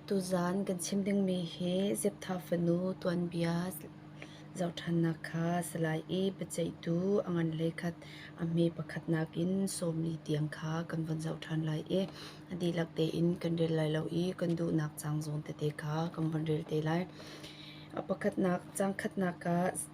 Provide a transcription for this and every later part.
Tuzaan kan chim dingmi hi Zeptha fanu tuanbia zohṭhannak kha Salai i biaceihtu a ngan le khat a hme pakhat nakin sawmli tiang kha kan vun zoh ṭhan lai i a dihlak tein kan rel lai lo i kan duhnak cang zawn tete kha kan vun rel te lai. A pakhatnak cangkhatnak ah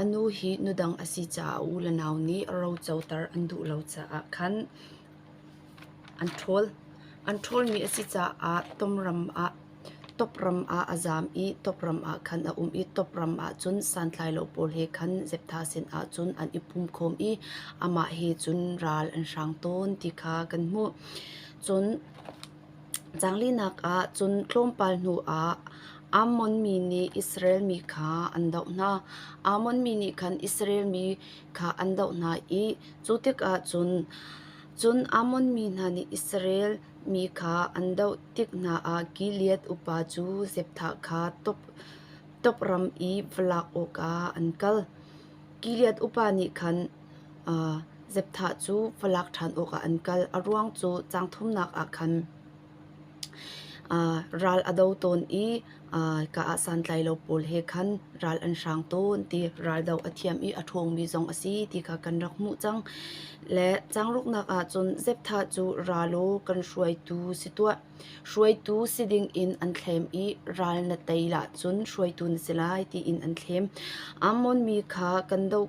A nu hi nudang a si caah a u le nau nih rocoter an duh lo caah khan an ṭhawl. An ṭhawlmi a si caah topram ah a zaam i topram ah khan a um i topram ahcun santlailo pawl he khan zeptha sinah cun an i pumkhawm i amah he cun ral an hrang tawn ti kha kan hmuh. Cun Zanglinak ah cun tlawmpal hnuah Ammon mi nih Israel mi kha an doh hna. Ammon mi nih khan Israel mi kha an doh hna i cu tikah cun cun Ammon mi hna nih Israel mi kha an doh tik hna ah Gilead upa cu Jephthah kha tawpram i va lak awkah an kal. Gilead upa nih khan Zepthah cu falak ṭhan awkah an kal. A ruang cu caang thumnak ah khan ral a do tawn i ka ah santlai lo pawl he khan ral an hrang tawn ti raldo a thiam i a ṭhawngmi zong a si ti kha kan rak hmuh cang. Le caang ruknak ah cun Zepthah cu ra law kan hruaitu si tuah. Hruaitu si dingin an thlem i ral na tei ahcun hruaitu na si lai tiin an thlem. Ammon mi kha kan doh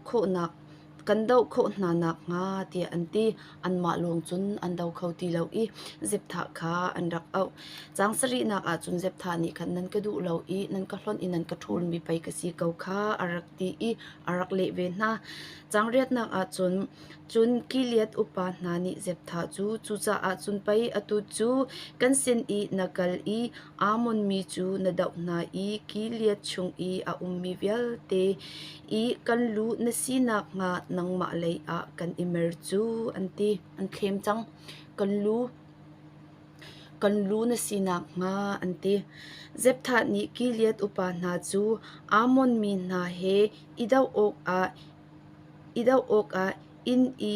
khawh hna nakhnga tiah an ti. Anmah lawng cun an do kho ti lo i Zepthah kha an rak auh. Caang sarihnak ahcun Zepthah nih khan nan ka duh lo i nan ka hlonh i nan ka ṭhulmi pei ka si ko kha a rak ti i a rak leh ve hna. Caang riatnak ahcun Cun Gilead upa hna nih Jephthah cu cucaah cun pei atu cu kan sin i na kal i Ammon mi cu na doh hna i Gilead chung i a ummi vialte i kan lu na si nakhnga nangmah leiah kan i mer cu, an ti. An thlem cang. Kan lu kan lu na si nakhnga, an ti. Jephthah nih Gilead upa hna cu Ammon mi hna he i doh awkah i doh awkah inn i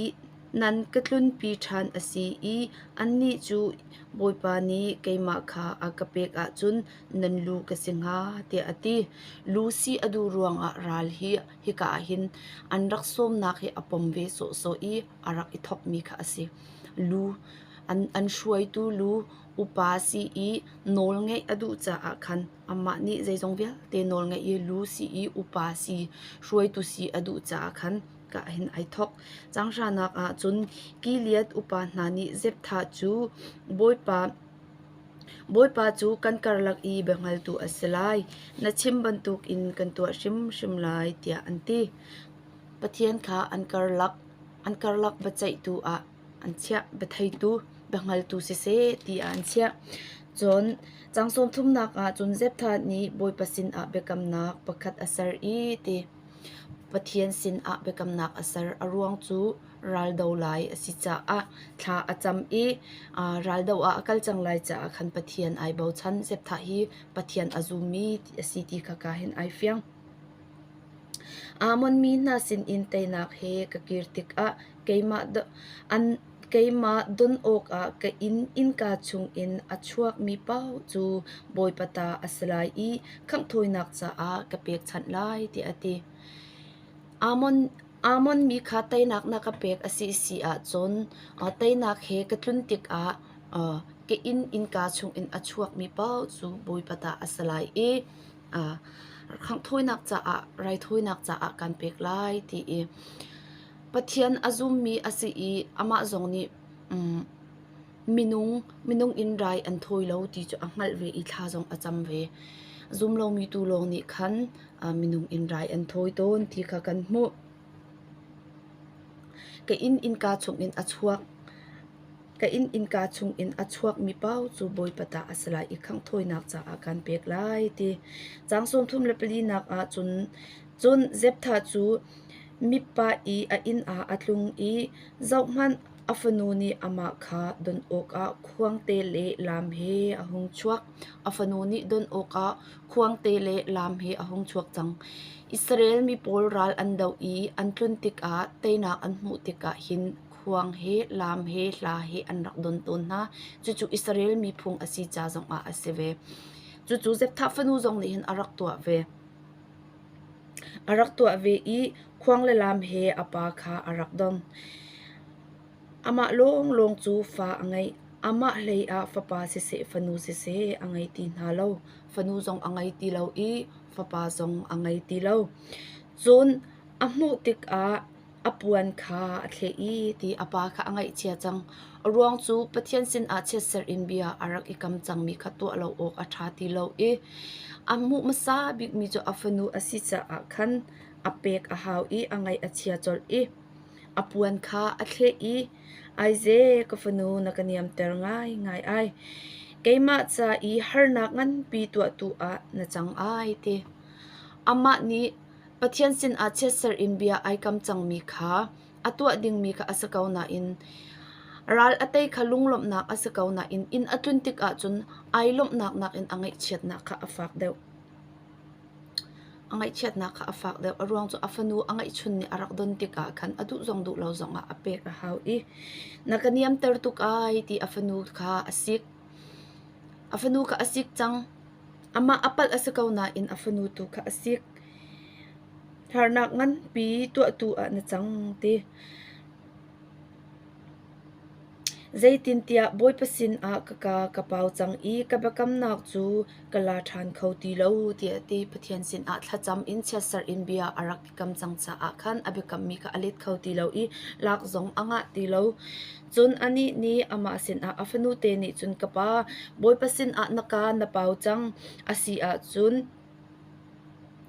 nan ka tlunpi ṭhan a si i annih cu Bawipa nih keimah kha a ka pek ahcun nan lu ka si hnga, tiah a ti. Lu sih a duh ruangah ral hi hika ah hin an rak sawmnak hi a pom ve sawhsawh i a rak i thawkmi kha a si. Lu an, an hruaitu lu upa si i nawl ngeih a duh caah khan Amah nih zeizong vialte nawl ngeih i lu si i upa si, hruaitu si a duh caah khan ka hin ai thawk. Changhranak ah cun Gilead upa hna nih Jephthah cu Bawipa Bawipa cu kan karlak i biahngaltu a si lai. Na chim bantukin kan tuah hrimhrim lai tiah an ti. Pathian kha an karlak an karlak biaceihtu ah an chiah. Biatheitu, biahngaltu siseh tiah an chiah. Cun cang sawmthumnak ah cun Zepthat nih Bawipa sinah biakamnak pakhat a ser i ti Pathian sinah biakamnak a ser. A ruang cu raldo lai a si caah thla a cam i aa raldo ah a kal cang lai caah khan Pathian ai bochan. Zepthat hi Pathian a zummi ti a si ti kha ka hin ai fiang. Ammon mi hna sinin teinak he ka kir tikah Keimah don awkah ka inn, innka chungin a chuakmi paoh cu Bawipa ta a si lai i khangh thawinak caah ka pekchanh lai, tiah a ti. Ammon mi kha teinak na ka pek a si si ahcun teinak he ka tlun tikah ka inn, innka chungin a chuakmi paoh cu Bawipa ta a si lai i khangh thawinak caah raithawinak caah kaan pek lai, ti i Pathian a zummi a si i amah zong nih minung in rai an thawi lo ti cu a hngalh ve i thla zong a cam ve. Zum lomi tu lawng nih khan minung in rai an thawi tawn ti kha kan hmuh. Ka inn innka chungin a chuak. Ka inn innka chungin a chuakmi pau cu Bawipa ta a si lai i khangh thawinak caah kaan pek lai ti. Caang sawm thum le pali nak ah cun Cun Jephthah cu Mizpah i a inn ah a tlung i zohhmanh, a fanu nih amah kha donh awkah khuangte le lam he a hung chuak. A fanu nih donh awkah khuangte le lam he a hung chuak cang. Israel mi pawl ral an doh i an tlun tikah teinak an hmuh tikah hin khuang he, lam he, hla he an rak don tawn hna. Cucu Israel mi phung a si ca zongah a si ve. Cucu Jephthah fanu zong nih hin a rak tuah ve. A rak tuah ve i khuang le lam he a pa kha a rak dong. Amah lawnglawng cu fa a ngei. Amah hleiah fapa siseh fanu siseh a ngei ti hna lo. Fanu zong a ngei ti lo i fapa zong a ngei ti lo. Cun a hmuh tikah a puan kha a thleh i ti a pa kha a ngaihchia cang. A ruang cu Pathian sinah chiatserh in bia a rak i kam cangmi kha tuah lo awk a ṭha ti lo i a hmuh hmasa bikmi cu a fanu a si caah khan a pek a hau i a ngaih a chia colh i a puan kha a thleh i aize ka fanu na ka niamter ngaingai ai keimah ca i harnak nganpi tuahtu ah na cang ai ti amah nih Pathian sinah chiatserh in bia ai kam cangmi kha a tuah dingmi kha a si ko nain ral a tei kha lunglawmhnak a si ko nain inn a tlun tik ahcun ai lawmhnak nakin a ngaihchiatnak kha a fak deuh. A ngaihchiatnak kha a fak deuh. A ruang cu a fanu a ngaihchun nih a rak don tik ah khan a duh zong duh lo zong ah a pek a hau i na ka niamter tuk ai ti a fanu kha a sik. A fanu kha a sik cang. Amah a palh a si ko nain a fanu tu kha a sik. Harnak nganpi tuahtu ah na cang ti. Zeitintiah Bawipa sinah ka ka ka pau cang i ka biakamnak cu ka la ṭhan kho ti lo tiah a ti. Pathian sinah thlacam in chiatserh in bia a rak i kam cang caah khan a biakammi kha a let kho ti lo i lak zong a ngah ti lo. Cun anih nih amah sinah, A fanute nih cun, Ka pa, Bawipa sinah na kaa na pau cang a si ahcun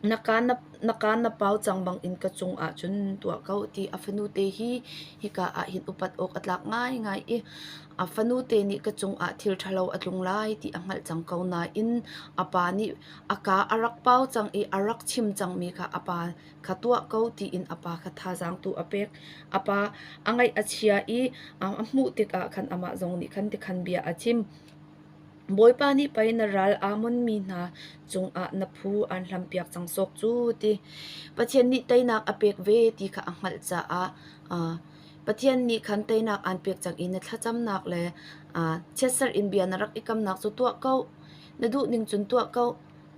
na kaa na, na kaa na pau cang bangin ka cungah cun tuah ko, ti a fanute hi hika ah hin upat awk a tlak ngaingai i a fanute nih ka cungah thil ṭhalo a tlung lai ti a hngalh cang ko nain a pa nih a kaa a rak pau cang i a rak chim cangmi kha a pa kha tuah ko tiin a pa kha thazaangtu a pek. A pa a ngaih a chia i a hmuh tikah khan amah zong nih khan tikhan bia a chim. Bawipa nih pei na ral Ammon mi hna cungah na phu an hlampiak cang sawk cu ti. Pathian nih teinak a pek ve ti kha a hngalh caah Pathian nih khan teinak aan pek cang i na thlacamnak le chiatserh in bia na rak i kamnak cu tuah ko. Na duh ning cun tuah ko.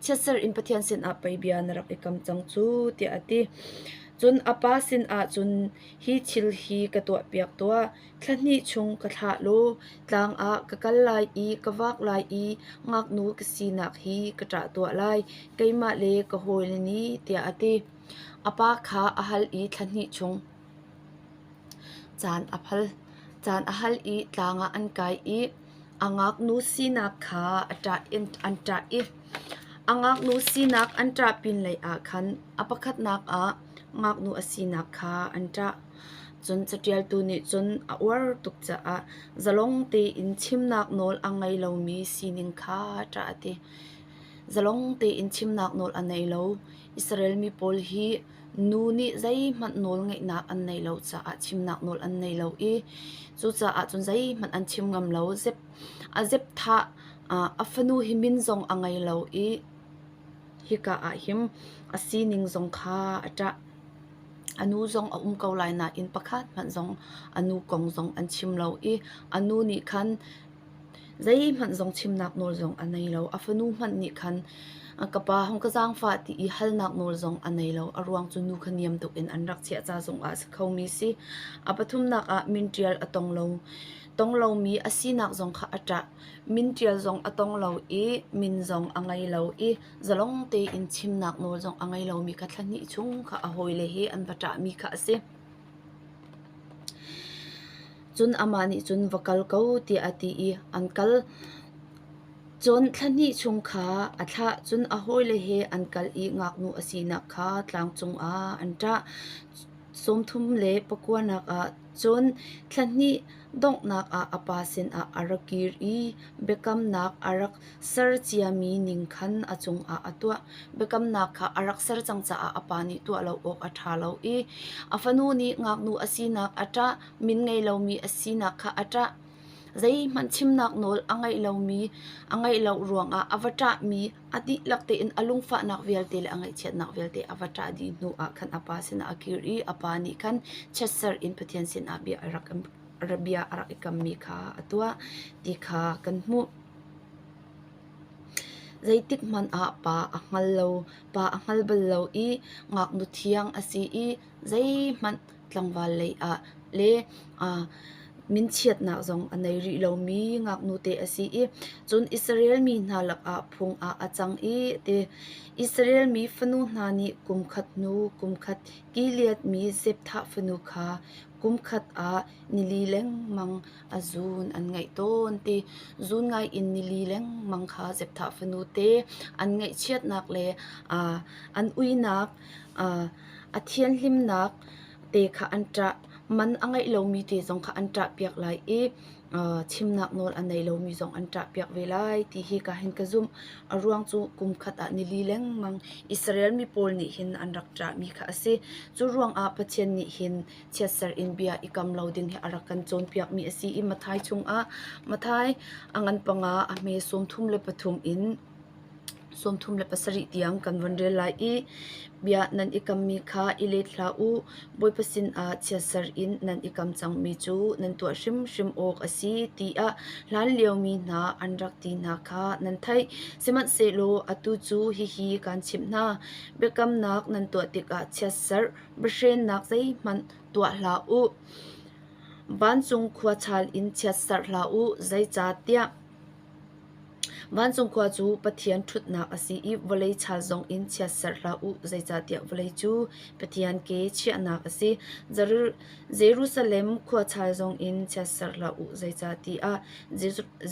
chiatser in Pathian sinah pei bia na rak i kam cang cu tiah a ti. Cun a pa sinah cun hi thil hi ka tuahpiak tuah, thla hnih chung ka thlah law tlang ah ka kal lai i ka vak lai i ngaknu ka sinak hi ka ṭah tuah lai, keimah le ka hawile nih tiah a ti. A pa kha a hal i thla hnih chung caan a phal. Caan a hal i tlang ah an kai i a ngaknu sinak kha an ṭah i a ngaknu sinak an ṭah pinlei ah khan a pakhatnak ah ngaknu a sinak kha an ṭah. Cun caṭialtu nih cun a uar tuk caah zalong tein chimnak nawl a ngei lomi sining kha ṭah a ti. Zalong tein chimnak nawl a nei lo. Israel mi pawl hi nu nih zeihmanh nawlngeihnak an nei lo caah chimnak nawl an nei lo i cucaah cun zeihmanh an chim ngam lo. Zep, a zepthah a fanu hi min zong a ngei lo i hika ah hin a sining zong kha a ṭah. A nu zong a um ko lai nain pakhat hmanh zong a nu kong zong an chim lo i a nu nih khan Zeihmanh zong chimnak nawl zong a nei lo. A fanu hmanh nih khan ka pa hong ka zaangfah ti i halnak nawl zong a nei lo. A ruang cu nu kha niam tuk in an rak chiah ca zongah a si khomi si. A pathumnak ah min ṭial a tong lo. Tong lomi a sinak zong kha a ṭah. Min ṭial zong a tong lo i min zong a ngei lo i zalong tein chimnak nawl zong a ngei lomi kha thla hnih chung kha a hawile he an va ṭahmi kha a si. Cun amah nih cun va kal ko tiah a ti i an kal. Cun thla hnih chung kha a thlah, cun a hawile he an kal i ngaknu a sinak kha tlang cungah an ṭah. Sawmthum le pakuanak ah cun thla hnih donghnak ah a pa sinah a ra kir i biakamnak a rak ser ciami ning khan a cungah a tuah. Biakamnak kha a rak ser cang caah a pa nih tuah lo awk a ṭha lo i a fanu nih ngaknu a sinak a ṭah, min ngei lomi a sinak kha a ṭah. Zeihmanh chimnak nawl a ngeih lomi a ngeih lo ruangah a va ṭahmi A dihlak tein a lungfahnak vialte le a ngaihchiatnak vialte a va ṭah dih hnu ah khan a pa sinah a kir i a pa nih khan chiatserh in Pathian sinah bia a rak bia a rak i kammi kha a tuah ti kha kan hmuh. Zeitik hmanh ah pa a hngal lo, pa a hngal bal lo i ngaknu thiang a si i zeihmanh tlangval lei ah le minchiatnak zong a nei rih lomi ngaknute a si i cun Israel mi hna lakah phung ah a cang i ti Israel mi fanu hna nih kumkhat hnu kumkhat Gileadmi Zepthah fanu kha kumkhat ah nili lengmang a zun an ngeih tawn ti zun ngai in nili lengmang kha Zepthah fanu te an ngaihchiatnak le an uinak A thianhlimnak te kha an ṭah. Man a ngei lomi te zong kha an ṭahpiak lai i chimnak nawl a nei lomi zong an ṭahpiak ve lai ti hi ka hin ka zumh. A ruang cu kum khat ah nili lengmang Israel mi pawl nih hin an rak ṭahmi kha a si. Cu ruangah Pathian nih hin chiatserh in bia i kam lo ding hi a rak kan cawnpiakmi a si i Matthai chungah Matthai a ngan panga a hme sawmthum le pathum in Sawmthum le pasarih tiang kan vun rel lai i bia nan i kammi kha i let hlah u. Bawipa sinah chiatserh in nan i kam cangmi cu nan tuah hrimhrim awk a si tiah hlanliomi hna an rak ti hna kha nan theih. Sihmanhsehlaw atu cu hihi kaan chimh hna: biakamnak nan tuah tikah chiatserh, biahrennak zeihmanh tuah hlah u. Vancung khua chal in chiatserh hlah u, zeicahtiah Vancung khua cu Pathian ṭhutnak a si i vawlei chal zongin chiatserh hlah u, zeicahtiah vawlei cu Pathian ke chiahnak a si. Jerusalem khua chal zongin chiatserh hlah u, zeicahtiah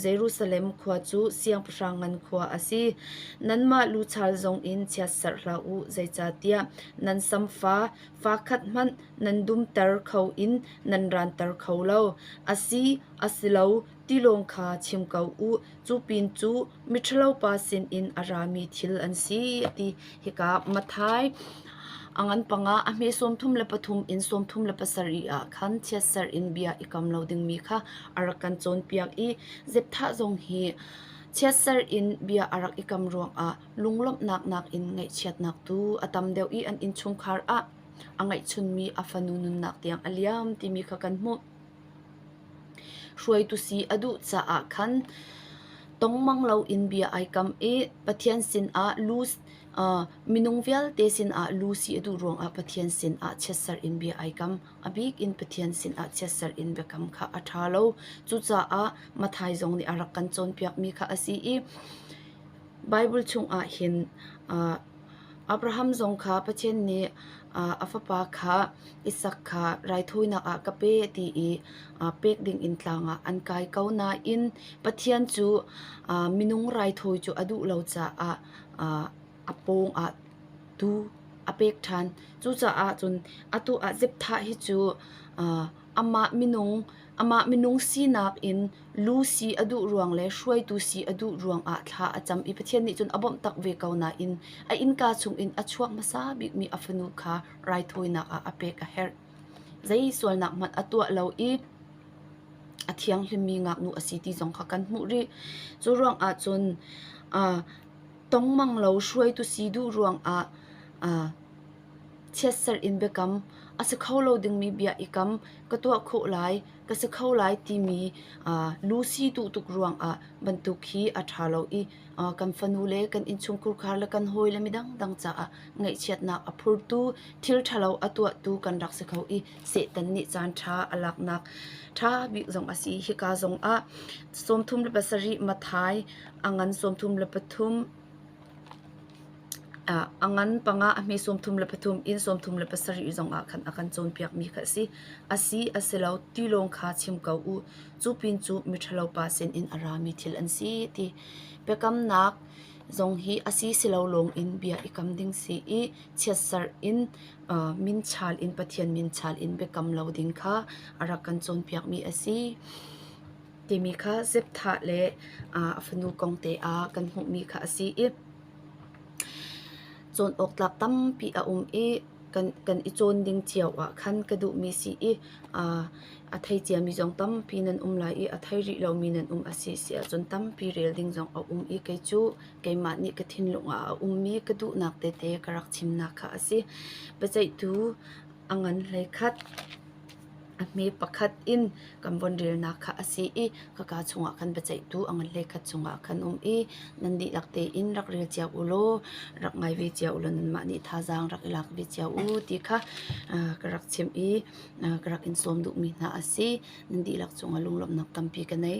Jerusalem khua cu siangpahrang ngan khua a si. Nanmah lu chal zongin chiatserh hlah u, zeicahtiah nan samfa fa khat hmanh nan dumter kho in nan ranter kho lo, a si, a si lo, Tilawng kha chim ko u. Cu pin cu miṭhalopa sinin a rami thil an si a ti. Hika Mathai a ngan pangah a hme sawmthum le pathum in sawmthum le pasarih ah khan chiatser in bia i kam lo dingmi kha a rak kan cawnpiak i Zepthah zong hi chiatser in bia a rak i kam ruangah lunglawmhnak nakin ngaihchiatnak tu a tam deuh i an innchungkhar ah a ngeihchunmi a fanu nunnak tiang a liam timi kha kan hmuh. Hruaitu si a duh caah khan tongmang loin bia ai kam i Pathian sinah lu minung vialte sinah lu si a duh ruangah Pathian sinah chiatserh in bia ai kam. A bik in Pathian sinah chiatserh in biakam kha a ṭha lo. Cucaah Matthai zong nih a rak kan cawnpiakmi kha a si i Baibal chungah hin Abraham zong kha Pathian nih a fapa kha Isak kha raithawinak ah ka pe ti i pek dingin tlang ah an kai ko nain Pathian cu minung raithawi cu a duh lo caah a pawng ah tuu a pek ṭhan. Cucaah cun atu ah Zepthah hi cu amah minung Amah minung sinak in lu si a duh ruang le hruaitu si a duh ruang ah thla a cam i Pathian nih cun a bawmh tak ve ko nain a innka chungin a chuak hmasa bikmi a fanu kha raithawinak ah a pek a herh. Zei sualnak hmanh a tuah lo i a thianghlimmi ngaknu a si ti zong kha kan hmuh rih. Cu ruang ah cun uh, tongmang lo hruaitu si duh ruang ah uh, chiatserh in biakam, a si kho lo dingmi bia i kam ka tuah khawh lai, ka si kho lai timi lusi duh tuk ruangah bantuk hi a ṭha lo i kan fanu le kan innchungkhar le kan hawi le midangdang caah ngaihchiatnak a phurtu, thil ṭhalo a tuahtu kan rak si kho i Satan nih caanṭha a laknak ṭha bik zong a si. Hika zongah sawmthum le pasarih Matthai, a ngan sawmthum le pathum, A ngan panga a hme sawmthum le pathum, inn sawmthum le pasarih zong ah khan a kan cawnpiakmi kha a si. A si, a si lo ti lawng kha chim ko u. Cu pin cu miṭhalo pa sinin a rami thil an si ti. Biakamnak zong hi a si silo lawng in bia i kam ding si i chiatserh in minchal in Pathian minchal in biakam lo ding kha a rak kan cawnpiakmi a si. timi kha Zebthah le a fanu kong te ah kan hmuhmi kha a si i cawn awk tlak tampi a um i kan, kan i cawn ding cio ah khan ka duhmi si i a thei ciami zong tampi nan um lai i a thei rih lomi nan um a si si ahcun tampi rel ding zong a um i kei cu keimah nih ka thinlung ah a ummi ka duhnak tete ka rak chimnak kha a si. Biaceihtu a ngan hlei khat A hme pakhat in kan von relnak kha a si i khaka chungah khan biaceihtu a ngan le khat cungah khan um i nan dihlak tein rak rel cio u law rak ngai ve cio u law nanmah nih thazaang rak i lak ve cio u ti kha ka rak chimh i ka rak in sawm duhmi hna a si. Nan dihlak cungah lunglawmhnak tampi ka ngei.